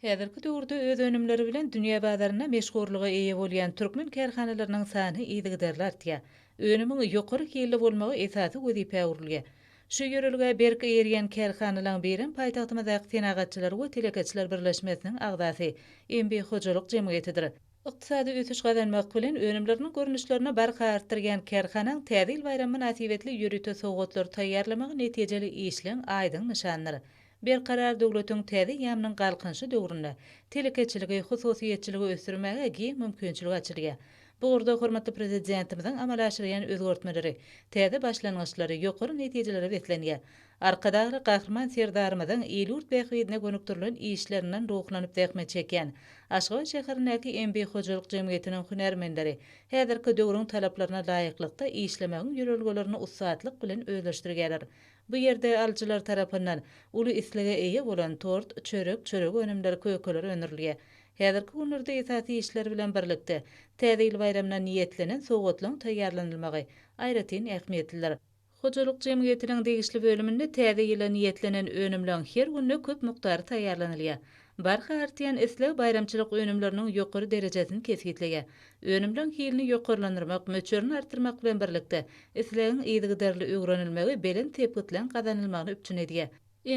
Häzirki döwürde öz önümleri bilen dünýä bazarynda meşhurlyga eýe bolýan türkmen kärhanalarynyň sany yzygiderli artýar. Önümiň ýokary hilli bolmagy esasy wezipä öwrülýär. Şu ýörelgä berk eýerýän kärhanalaryň birem paýtagtymyzdaky Senagatçylar we telekeçiler birleşmesiniň agzasy MB Hojalyk jemgyýetidir. Ykdysady ösüş gazanmak bilen, önümleriniň görnüşlerini barha artdyrýan kärhanaň Täze ýyl baýramy mynasybetli ýörite sowgatlary taýýarlamagy netijeli işleň aýdyň nyşanydyr. Berkarar döwletiň täze eýýamynyň Galkynyşy döwründe telekeçiligi, hususyýetçiligi ösdürmäge giň mümkinçilik açylýar. Bu ugurda hormatly Prezidentimiziň amala aşyrýan özgertmeleri täze başlangyçlary, ýokary netijelere beslenýär. Arkadagly Gahryman Serdarymyzyň il-ýurt bähbidine gönükdirilen işlerinden ruhlanyp zähmet çekýän Aşgabat şäherindäki MB Hojalyk jemgyýetiniň hünärmenleri häzirki döwrüň talaplaryna laýyklykda işlemegiň ýörelgelerini ussatlyk bilen özleşdirýärler. Bu ýerde alyjylar tarapyndan uly islege eýe bolan tort, çörek, çörek önümleri, kökeler öndürilýär. Häzirki günlerde esasy işler bilen birlikde, Täze ýyl baýramyna niýetlenen sowgatlaryň taýýarlanylmagy aýratyn ähmiýetlidir. Hojalyk jemgyýetiniň degişli bölüminde täze ýyla niýetlenen önümleň her günde köp mukdary taýýarlanylýar. Barha artýan isleg baýramçylyk önümleriniň ýokary derejesini kesgitleýär. Önümleň hilini ýokarlandyrmak, möçberini artdyrmak bilen birlikde, islegiň yzygiderli öwrenilmegi belent sepgitleň gazanylmagyny üpjün edýär.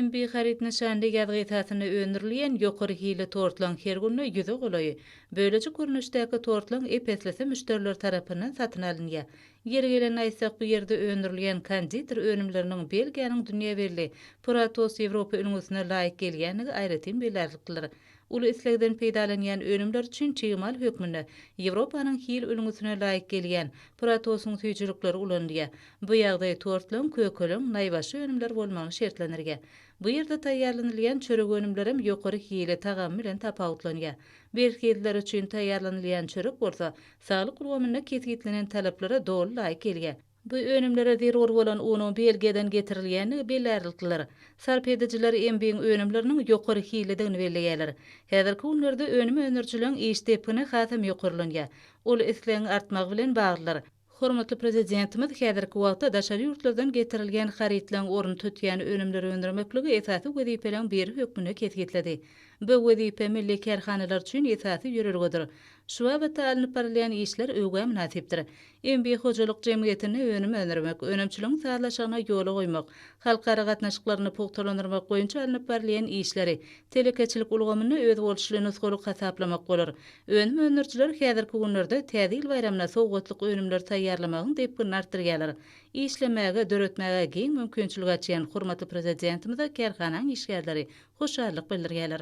MB haryt nyşanly ýazgy esasynda öndürilýän ýokary hilli tortlaryň her günde ýüze golaýy, bölejik görnüşdäki tortlaryň ep-eslisi müşderiler tarapyndan satyn alynýar. Ýeri gelende aýtsak, bu ýerde öndürilýän konditer önümleriniň Belgiýanyň dünýä belli Puratos Ýewropa ülňüsine laýyk gelýändigi aýratyn belärliklidir. Uly islegden peýdalanýan önümler üçin çig mal hökmünde Ýewropanyň hil ülňüsine laýyk gelýän Pratosyň süýjülikleri ulanylýar. Bu ýagdaý tortlaň, kökeleň, naýbaşy önümler bolmagyny şertlendirýär. Bu ýerde taýýarlanylýan çörek önümlerem ýokary hili, tagamy bilen tapawutlanýar. Berhizliler üçin taýýarlanylýan çörek bolsa saglyk ulgamynda kesgitlenen talaplara doly laýyk gelýär. Bu önümlere zerur bolan unuň Belgiýadan getirilýändigi bellärliklidir. Sarp edijiler Embiň önümleriniň ýokary hillidigini belleýärler. Häzirki günlerde önüm öndürijileriň iş depgini hasam ýokarlanýar. Ol islegiň artmagy bilen baglydyr. Hormatly Prezidentimiz häzirki wagtda daşary ýurtlardan getirilýän harytlaryň ornuny tutýan önümleri öndürmekligi esasy wezipeleriň biri hökmünde kesgitledi. Bu wezipe milli kärhanalar üçin esasy ýörelgedir. Şu babatda alnyp barylýan işler öwgä mynasypdyr. MB hojalyk jemgyýetinde önüm öndürmek, önümçiligiň sazlaşygyny ýola goýmak, halkara gatnaşyklaryny pugtalandyrmak boýunça alnyp barylýan işleri telekeçilik ulgamynda özboluşly nusgalyk hasaplamak bolar. Önüm öndürijiler häzirki günlerde Täze ýyl baýramyna sowgatlyk önümleri taýýarlamagyň depginini artdyrýarlar. Işlemäge, döretmäge giň mümkinçilik açýan hormatly Prezidentimize kärhanaň işgärleri hoşallyk bildirýärler.